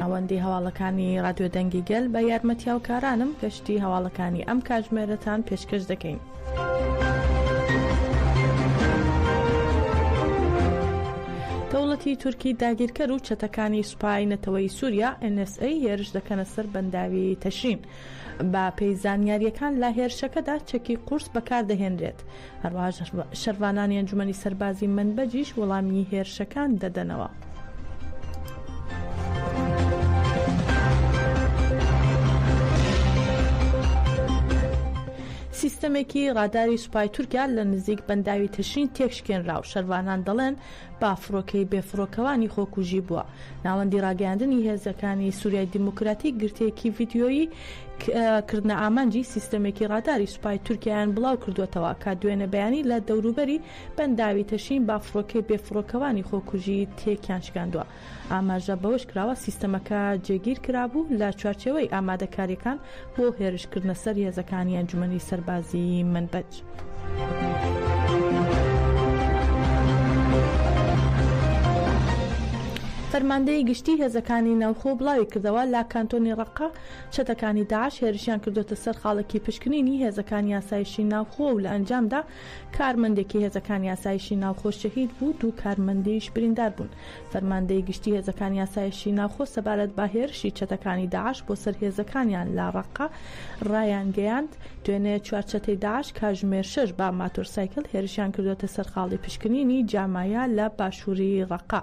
ناوەندی هەواڵەکانی رادیۆ دەنگی گەل بە یارمەتیاوکارانم گەشتی هەواڵەکانی ئەم کاژمێرەتان پێشکەش دەکەین. دەوڵەتی تورکی داگیرکەر و چەتەکانی سوپای نەتەوەی سووریا NSA هێرش دەکەنە سەر بەنداوی تەشرین. با پێی زانیاریەکان لە هێرشەکەدا چەکی قورس بەکاردەهێنرێت. هەروەها شەرڤانانی ئەنجومەنی سەربازی مەنبەجیش وەڵامی هێرشەکان دەدەنەوە. سیستەمێکی ڕاداری سوپای تورکیا لە نزیک بەنداوی تەشرین تێکشکێنرا و شەرڤانان دەڵێن با فڕۆکەی بێفڕۆکەوانی خۆکوژی بووە. ناوەندی ڕاگەیاندنی هێزەکانی سوریای دیموکراتیک گرتەیەکی ڤیدیۆیی کردنە ئامانجی سیستەمێکی ڕاداری سوپای تورکیایان بڵاوکردووەتەوە کە دوێنێ بەیانی لە دەوروبەری بەنداوی تەشین با فڕۆکەی بێفڕۆکەوانی خۆکوژی تێکیان شکاندووە. ئاماژە بەوەشکراوە، سیستەمەکە جێگیرکرابوو لە چوارچێوەی ئامادەکارییەکان بۆ هێرشکردنە سەر هێزەکانی ئەنجومەنی سەربازیی مەنبەج. فەرماندەیی گشتیی هێزەکانی ناوخۆ بڵاویکردەوە، لە کانتۆنی ڕەققە چەتەکانی داعش هێرشیان کردووەتە سەر خاڵێکی پشکنینی هێزەکانی ئاسایشی ناوخۆ و لە ئەنجامدا کارمەندێکی هێزەکانی ئاسایشی ناوخۆ شەهید بوو، دوو کارمەندیش بریندار بوون. فەرماندەی گشتی هێزەکانی ئاسایشی ناوخۆ سەبارەت بە هێرشی چەتەکانی داعش بۆ سەر هێزەکانیان لە ڕەققە ڕایانگەیاند، دوێنێ چوار چەتەی داعش کاژمێر شەش بە ماتۆرسایکل هێرشیان کردووەتە سەر خاڵی پشکنینی جامایا لە باشووری ڕەققە.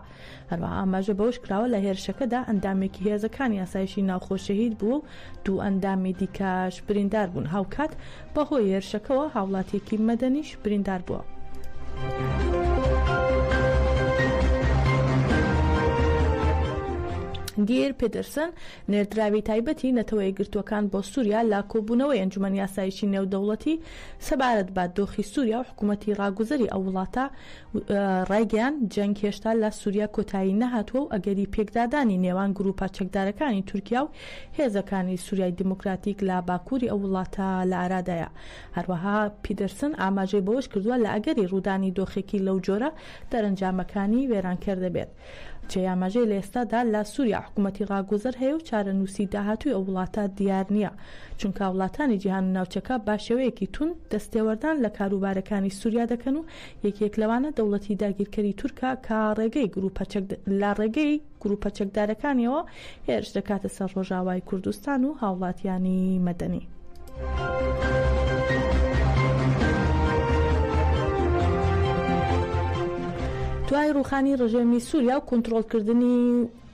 هەروەها ئاماژە بەوەش کراوە، لە هێرشەکەدا ئەندامێکی هێزەکانی ئاسایشی ناوخۆ شەهید بووە و دوو ئەندامی دیکەش بریندار بوون، هاوکات بەهۆی هێرشەکەوە هاوڵاتییەکی مەدەنیش بریندار بووە. گیر پیدرسن، نێردراوی تایبەتی نەتەوە یەکگرتووەکان بۆ سووریا لە کۆبوونەوەی ئەنجومەنی ئاسایشی نێودەوڵەتی سەبارەت بە دۆخی سووریا و حکوومەتی ڕاگوزەری ئەو وڵاتە ڕایگەیاند، جەنگ هێشتا لە سوریا کۆتایی نەهاتووە و ئەگەری پێکدادانی نێوان گرووپە چەکدارەکانی تورکیا و هێزەکانی سوریای دیموکراتیک لە باکووری ئەو وڵاتە لە ئارادایە. هەروەها پیدرسن ئاماژەی بەوەش کردووە، لە ئەگەری ڕوودانی دۆخێکی لەو جۆرە، دەرەنجامەکانی وێرانکەر دەبێت. جێی ئاماژەیە لە ئێستادا لە سوریا حکومەتی ڕاگوزەر هەیە و چارەنووسی داهاتووی ئەو وڵاتە دیار نییە، چونکا وڵاتانی جیهان و ناوچەکە بە شێوەیەکی توند دەستێوەردان لە کاروبارەکانی سوریا دەکەن و یەکێک لەوانە دەوڵەتی داگیرکەری تورکە کە ڕێگەی گروپە چەک لە ڕێگەی گروپە چەکدارەکانیەوە هێرش دەکاتە سەر ڕۆژاوای کوردستان و هاوڵاتیانی مەدەنی. دوای ڕوخانی ڕژێمی سووریا و کۆنتترۆلکردنی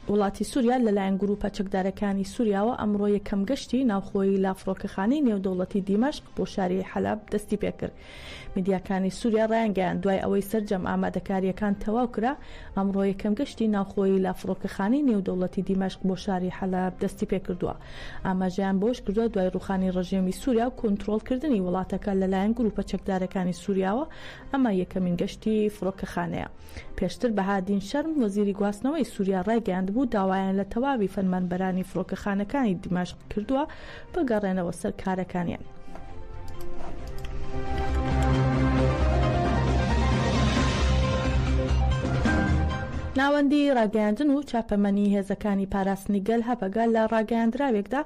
وڵاتی سووریا لەلایەن گروپە چەکدارەکانی سووریاوە ئەمڕۆ یەکەم گەشتی ناوخۆی لافرۆکەخانەی نێودەوڵەتی دیمەشق بۆ شاری حەلب دەستی پێکرد میدیاکانی سوریا ڕایانگەیاند، دوای ئەوەی سەرجەم ئامادەکارییەکان تەواو کرا، ئەمڕۆ یەکەم گەشتی ناوخۆیی لە فڕۆکەخانەی نێودەوڵەتی دیمەشق بۆ شاری حەلەب دەستیپێکردووە. ئاماژەیان بەوەشکردووە، دوای ڕووخانی ڕژێمی سوریا و کۆنترۆڵکردنی وڵاتەکە لەلایەن گروپە چەکدارەکانی سوریاوە، ئەمە یەکەمین گەشتی فڕۆکەخانەیە. پێشتر بەهادین شەرم، وەزیری گواستنەوەی سوریا ڕایگەیاندبوو، داوایان لە تەواوی فەرمانبەرانی فڕۆکەخانەکانی دیمەشق کردووە، بگەڕێنەوە سەر کارەکانیان. ناوەندی ڕاگەیاندن و چاپەمەنی هێزەکانی پاراستنی گەل هەپەگە لە ڕاگەیاندراوێکدا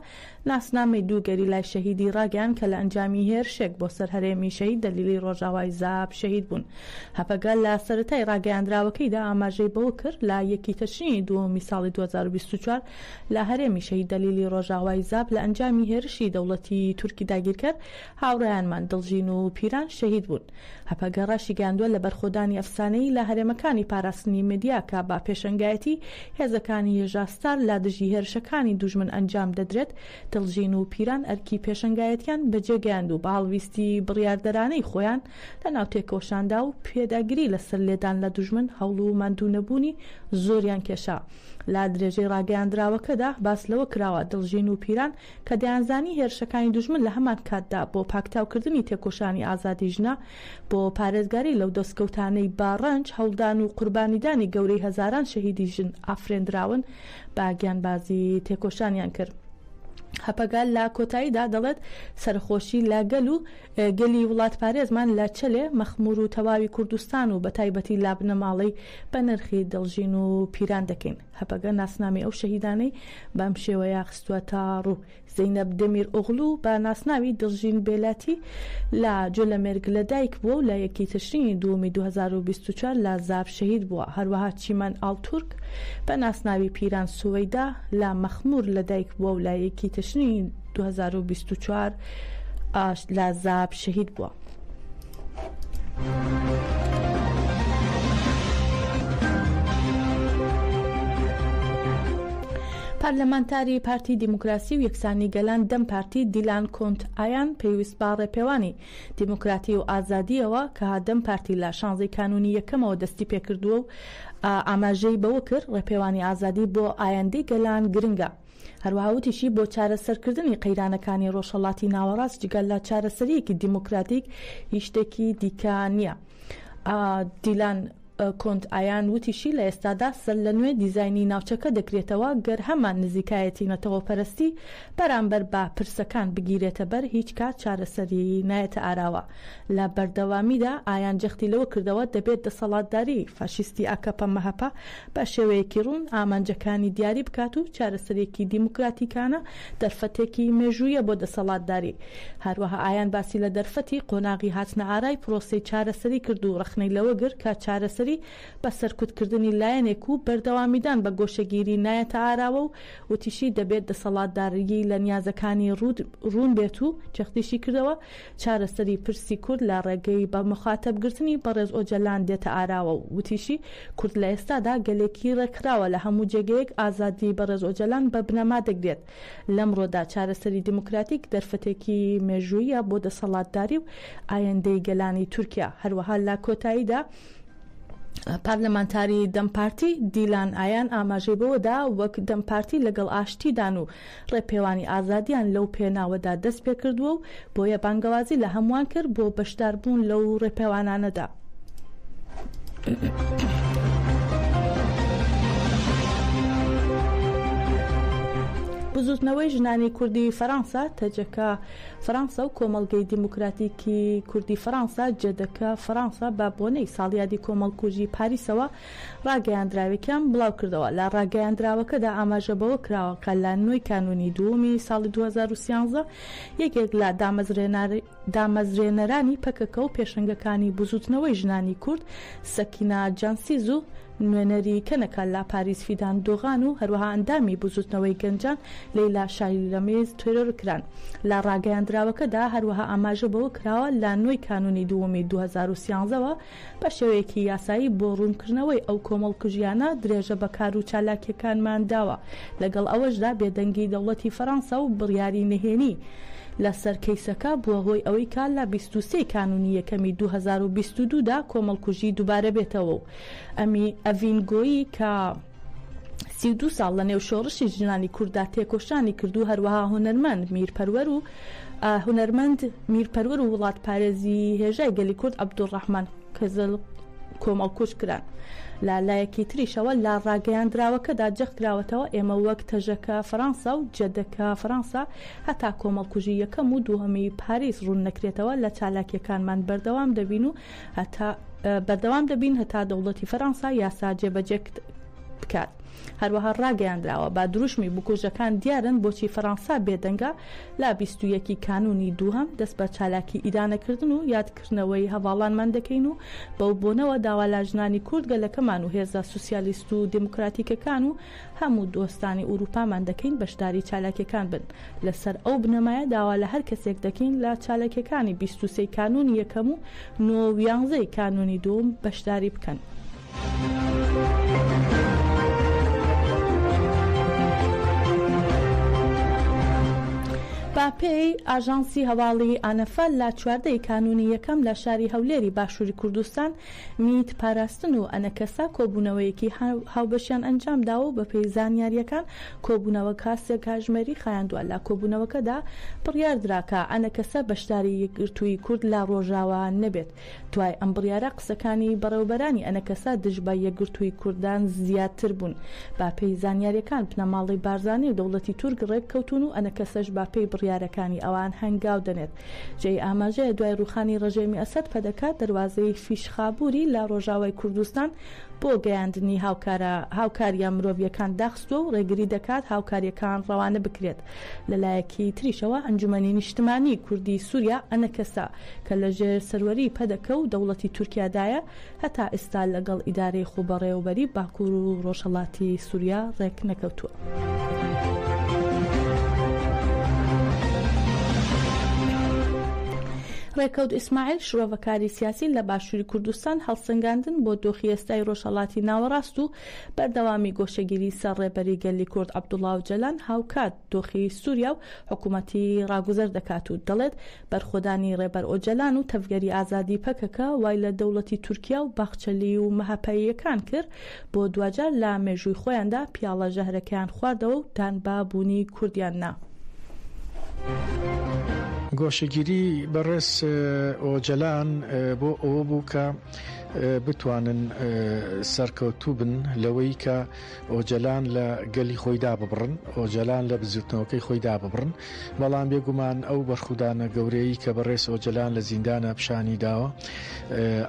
ناسنامەی دوو گەریلای شەهیدی ڕاگەیان کە لە ئەنجامی هێرشێک بۆ سەر هەرێمی شەهید دەلیلی ڕۆژاوای زاب شەهید بوون هەپەگە لە سەرەتای ڕاگەیاندراوەکەیدا ئاماژەی بەوە کرد لە یەکی تەشرینی دووەمی ساڵی 2024 لە هەرێمی شەهید دەلیلی ڕۆژاوای زاپ لە ئەنجامی هێرشی دەوڵەتیی تورکی داگیرکەر هاوڕێیانمان دڵژین و پیران شەهید بوون. هەپەگە ڕاشیگەیاندووە لە بەرخۆدانی ئەفسانەیی لە هەرێمەکانی پاراستنی مەدیاکا بە پێشەنگایەتی هێزەکانی یەژا ستار لە دژی هێرشەکانی دوژمن ئەنجام دەدرێت، دڵژین و پیران ئەرکی پێشەنگایەتیان بەجێگەیاند و بە هەڵویستی بڕیاردەرانەی خۆیان لەناو تێکۆشاندا و پێداگری لەسەر لێدان لە دوژمن هەوڵ و ماندوونەبوونی زۆریان کێشا. لە درێژەی ڕاگەیاندراوەکەدا باس لەوە کراوە، دڵژین و پیران کە دەیانزانی هێرشەکانی دوژمن لە هەمان کاتدا بۆ پاکتاوکردنی تێکۆشانی ئازادی ژنە، بۆ پارێزگاری لەو دەستکەوتانەی بە ڕەنج، هەوڵدان و قوربانیدانی گەورەی هەزاران شەهیدی ژن ئافرێندراون، بە گیانبازی تێکۆشانیان کرد. هەپەگە لە کۆتاییدا دەڵێت، سەرەخۆشی لە گەل و گەلی وڵاتپارێزمان لە چەلێ مەخمور و تەواوی کوردستان و بەتایبەتی لابنەماڵەی بەنرخی دڵژین و پیران دەکەین. هەپەگە ناسنامەی ئەو شەهیدانەی بەم شێوەیە خستووەتە ڕوو. زەینەب دەمیرئۆغلو بە ناسناوی دڵژین بێلاتی لە جۆلەمێرگ لەدایک بووە و لە یەکی تشرینی دووەمی دوو هەزار و بیست و چوار لە زاپ شەهید بووە. هەروەها چیمەن ئاڵتورک بە ناسناوی پیران سوەیدا لە مەخمور لەدایک بووە و لە یەکی تشرینی 2024 ئاشت لازاب شەهید بووە. پەرلەمانتاری پارتی دیموکراسی و یەکسانی گەلان دەم پارتی دیلان کۆنت ئایان پێویست با ڕێپێوانی دیموکراتی و ئازادیەوە کە دەم پارتی لە شانزەی کانونی یەکەمەوە دەستی پێکردووە و ئاماژەی بەوە کرد ڕێپێوانی ئازادی بۆ ئایندەی گەلان گرنگە. هەروەها وتیشی، بۆ چارەسەرکردنی قەیرانەکانی ڕۆژهەڵاتی ناوەڕاست جگە لە چارەسەرییەکی دیموکراتیک هیچ شتێکی دیکە نییە. دیلان کۆنت ئایان وتیشی، لە ئێستادا سەرلەنوێ دیزاینی ناوچەکە دەکرێتەوە، گەر هەمان نزیکایەتی نەتەوەپەرستی بەرامبەر بە پرسەکان بگیرێتەبەر هیچ کات چارەسەری نایەتە ئاراوە. لە بەردەوامیدا ئایان جەختی لەوە کردەوە، دەبێت دەسەڵاتداریی فاشیستی ئاکەپە-مەهەپە بە شێوەیەکی ڕوون ئامانجەکانی دیاری بکات و چارەسەرێکی دیموکراتیکانە دەرفەتێکی مێژوویە بۆ دەسەڵاتداری. هەروەها ئایان باسی لە دەرفەتی قۆناغی هاتنەئارای پرۆسەی چارەسەری کرد و ڕەخنەی لەوە گر کە چارەسەری بە سەرکوتکردنی لایەنێک و بەردەوامیدان بە گۆشەگیری نایەتە ئاراوە و وتیشی دەبێت دەسەڵاتداریی لە نیازەکانی ڕوون بێت و جەختیشی کردەوە چارەسەری پرسی کورد لە ڕێگەی بە مخاتەب گرتنی بەڕێز ئۆجەلان دێتە ئاراوە و وتیشی، کورد لە ئێستادا گەلێکی ڕێکخراوە لە هەموو جێگەیەک ئازادیی بەڕێز ئۆجەلان بە بنەما دەگرێت، لەمڕۆدا چارەسەری دیموکراتیک دەرفەتێکی مێژووییە بۆ دەسەڵاتداری و ئایندەی گەلانی تورکیا، هەروەها لە کۆتاییدا پارلمانتاری دەم پارتی دیلان ئایان ئاماژەی بەوەدا وەک دەم پارتی لەگەڵ ئاشتیدان و ڕێپێوانی ئازادیان لەو پێناوەدا دەست پێ کردووە و بۆیە بانگەوازی لە هەمووان کرد بۆ بەشدار بوون لەو ڕێپێوانانەدا. بزووتنەوەی ژنانی کوردی فەرانسە، تەجەکە فەرانسە و کۆمەڵگەی دیموکراتیکی کوردی فەرانسە، جەدەکە فەرانسە بە بۆنەی ساڵیادی کۆمەڵکوژی پاریسەوە ڕاگەیاندراوێکیان بڵاوکردەوە، لە ڕاگەیاندراوەکەدا ئاماژە بەوە کراوە کە لە نۆی کانوونی دووەمی ساڵی دوو هەزار و سیانزە یەکێک لە دامەزرێنەرانی پەکەکە و پێشەنگەکانی بزووتنەوەی ژنانی کورد سەکینە جانسیز و نوێنەری کەنەکە لە پاریس فیدان دۆغان و هەروەها ئەندامی بزووتنەوەی گەنجان لەیلا شالیرەمیز تێرۆرکران. لە ڕاگەیاندراوەکەدا هەروەها ئاماژە بەوە کراوە لە نۆی کانوونی دووەمی دوو هەزار و سیانزە وە، بە شێوەیەکی یاسایی بۆ ڕوونکردنەوەی ئەو کۆمەڵکوژییانە درێژە بە کار و چالاکییەکانمان داوە، لەگەڵ ئەوەشدا بێدەنگی دەوڵەتی فەرانسە و بڕیاری نهێنی لە سەر کەیسەکە بووە هۆی ئەوەی کە لە بیست و سێ ی کانوونی یەکەمی دوو هەزار و بیست و دوو دا کۆمەڵکوژی دووبارە بێتەوە و ئەڤین گۆیی کە سی و دوو ساڵ لەنێو شۆڕشی ژنانی کورددا تێکۆشانی کرد و هەروەها هونەرمەند میرپەروەر و هونەرمەند میرپەروەر و وڵاتپارێزی هێژای گەلی کورد عەبدولڕەحمان کەزل کۆمەڵکوژ کران لە لایەکی تریشەوە لە ڕاگەیاندراوەکەدا جەختکراوەتەوە ئێمە وەک تەژەکە فەرەنسا و جەدەکە فەرەنسا هەتا کۆمەڵکوژی یەکەم و دووەمی پاریس ڕوون نەکرێتەوە لە چالاکیەکانمان بەردەوام دەبین و هەتا بەردەوام دەبین هەتا دەوڵەتی فەرەنسا یاسا جێبەجێ بکات هەروەها ڕاگەیاندراوە با دروشمی بکوژەکان دیارن بۆچی فەرەنسا بێدەنگە لا بیست و یەکی کانونی دووهەم دەست بە چالاکی ئیدانەکردن و یادکردنەوەی هەڤاڵانمان دەکەین و بەو بۆنەوە داوا لا ژنانی کورد گەلەکەمان و هێزە سوسیالیست و دێموکراتیکەکان و هەموو دۆستانی ئورووپامان دەکەین بەشداری چالاکیەکان بن، لەسەر ئەو بنەمایە داوا لە هەر کەسێک دەکەین لە چالاکیەکانی بیست و سێی کانوونی یەکەم و نۆ و یانزەی کانوونی دووم بەشداری بکەن. بە پێی ئاژانسی هەواڵی ئانەفە لە چواردە ی کانوونی یەکەم لە شاری هەولێری باشووری کوردستان میت پاراستن و ئەنەکەسە کۆبوونەوەیەکی هاوبەشیان ئەنجامداوە و بەپێی زانیارییەکان کۆبوونەوەکە سێ کاژمێری خایاندووە، لە کۆبوونەوەکەدا بڕیاردرا کە ئەنەکەسە بەشداری یەکگرتووی کورد لە ڕۆژاوا نەبێت، دوای ئەم بڕیارە قسەکانی بەڕێوەبەرانی ئەنەکەسە دژ بە یەکگرتووی کوردان زیاتر بوون، بەپێی زانیارییەکان بنەماڵەی بارزانی و دەوڵەتی تورک ڕێککەوتوون و ئەنەکەسەش بەپێی بڕیارەکانی ئەوان هەنگاو دەنێت. جێی ئاماژەیە دوای ڕووخانی ڕژێمی ئەسەد پەدەکە دەروازەی فیشخابووری لە ڕۆژاوای کوردستان بۆ گەیاندنی هاوکارە هاوکارییە مرۆڤییەکان داخستووە و ڕێگری دەکات هاوکارییەکان ڕەوانە بکرێت لە لایەکی تریشەوە ئەنجومەنی نیشتمانیی کوردی سووریا ئەنەکەسە کە لەژێر سەروەریی پەدەکە و دەوڵەتی تورکیادایە هەتا ئیستا لەگەڵ ئیدارەی خوبەڕێوەبەری باکور و ڕۆژهەڵاتی سوریا ڕێک نەکەوتوە. ڕێکەوت ئیسماعیل شرۆڤەکاری سیاسی لە باشووری کوردستان هەڵسەنگاندن بۆ دۆخی ئێستای ڕۆژهەڵاتی ناوەڕاست و بەردەوامی گۆشەگیری سەر ڕێبەری گەلی کورد عەبدوڵا و جەلان هاوکات دۆخی سوریا و حکومەتی راگوزەر دەکات و دەڵێت، بەرخۆدانی رێبەر ئۆجەلان و تەڤگەری ئازادی پەکەکە وای لە دەوڵەتی تورکیا و باخچەلی و مەهەپەییەکان کرد بۆ دواجار لە مێژووی خۆیاندا پیاڵە ژەهرەکەیان خواردەوە و دان بە بوونی کوردیان نا. گۆشەگیری بەڕێز ئۆجەلان بۆ ئەوە بوو کە بتوانن سەرکەوتوو بن لەوەی کە ئۆجەلان لە گەلی خۆی داببڕن، ئۆجەلان لە بزووتنەوەکەی خۆی داببڕن، بەڵام بێگومان ئەو بەرخودانە گەورەیەی کە بەڕێز ئۆجەلان لە زیندانا پیشانی داوە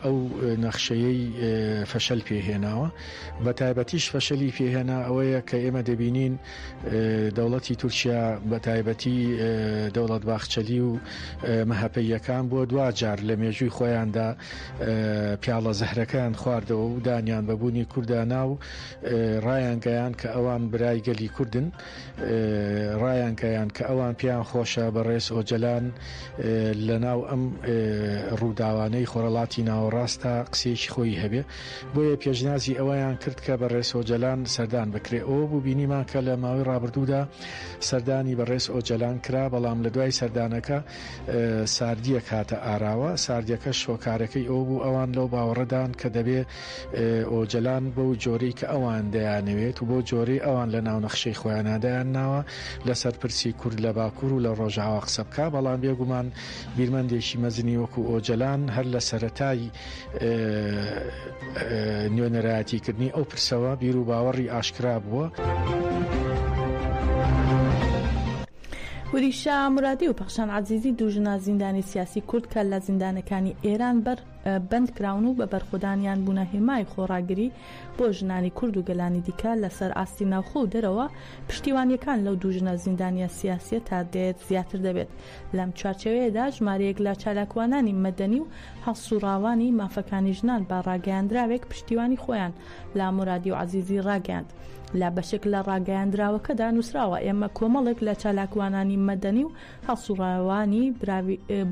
ئەو نەخشەیەی فەشەل پێ هێناوە، بە تایبەتیش فەشەلی پێ هێنا ئەوەیە کە ئێمە دەبینین دەوڵەتی تورکیا بە تایبەتی دەوڵەت باخچەلی و مەهەپەییەکان بۆ دواجار لە مێژووی خۆیاندا پیاڵە زەهرەکەیان خواردەوە و دانیان بە بوونی کوردانا و ڕایانگەیان کە ئەوان برای گەلی کوردن ڕایانگەیان کە ئەوان پێیان خۆشە بە ڕێز ئۆجەلان لە ناو ئەم ڕووداوانەی خۆرەڵاتی ناوەڕاستە قسێکی خۆی هەبێ بۆیە پێشنازی ئەوەیان کرد کە بە ڕێز ئۆجەلان سەردان بکرێ ئەو بوو بینیمان کە لە ماوەی ڕابردوودا سەردانی بە ڕێز ئۆجەلان کرا بەڵام لە دوای سەردانەکە ساردییەک هاتە ئاراوە، ساردییەکەش هۆکارەکەی ئەوە بوو ئەوان لەو باوەڕەدان کە دەبێ ئۆجەلان بەو جۆرەی کە ئەوان دەیانەوێت و بەو جۆرەی ئەوان لە ناو نەخشەی خۆیانا دایان ناوە لەسەر پرسی کورد لە باکوور و لە ڕۆژاوا قسە بکا، بەڵام بێگومان بیرمەندێکی مەزنی وەکوو ئۆجەلان هەر لە سەرەتای نوێنەرایەتی کردنی ئەو پرسەوە بیرو باوەڕی ئاشکرا بووە. وریشا مورادی و پەخشان عەزیزی دوو ژنە زیندانی سیاسی کورد کە لە زیندانەکانی ئێران بەر بەند کراون و بە بەرخودانیان بوونە هێمای خۆڕاگری بۆ ژنانی کورد و گەلانی دیکە لە سەر ئاستی ناوخۆ و دەرەوە پشتیوانیەکان لەو دوو ژنە زیندانیە سیاسیە تا دێت زیاتر دەبێت لەم چوارچێوەیەدا ژمارەیەک لە چالاکوانانی مەدەنی و هەڵسوڕاوانی مافەکانی ژنان بە ڕاگەیاندراوێک پشتیوانی خۆیان لە مورادی و عەزیزی ڕاگەیاند. لە بەشێک لە ڕاگەیاندراوەکەدا نووسراوە، ئێمە کۆمەڵێک لە چالاکوانانی مەدەنی و هەڵسوڕاوانی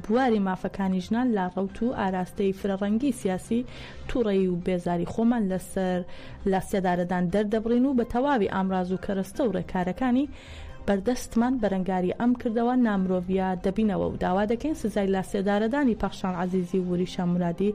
بواری مافەکانی ژنان لە ڕەوت و ئاراستەی فرەڕەنگی سیاسی توڕەیی و بێزاری خۆمان لەسەر لە سێدارەدان دەردەبڕین و بە تەواوی ئامراز و کەرەستە و ڕێکارەکانی بەردەستمان بەرەنگاری ئەم کردەوە نامرۆڤیە دەبینەوە و داوا دەکەین سزای لە سێدارەدانی پەخشان عەزیزی و وریشە مورادی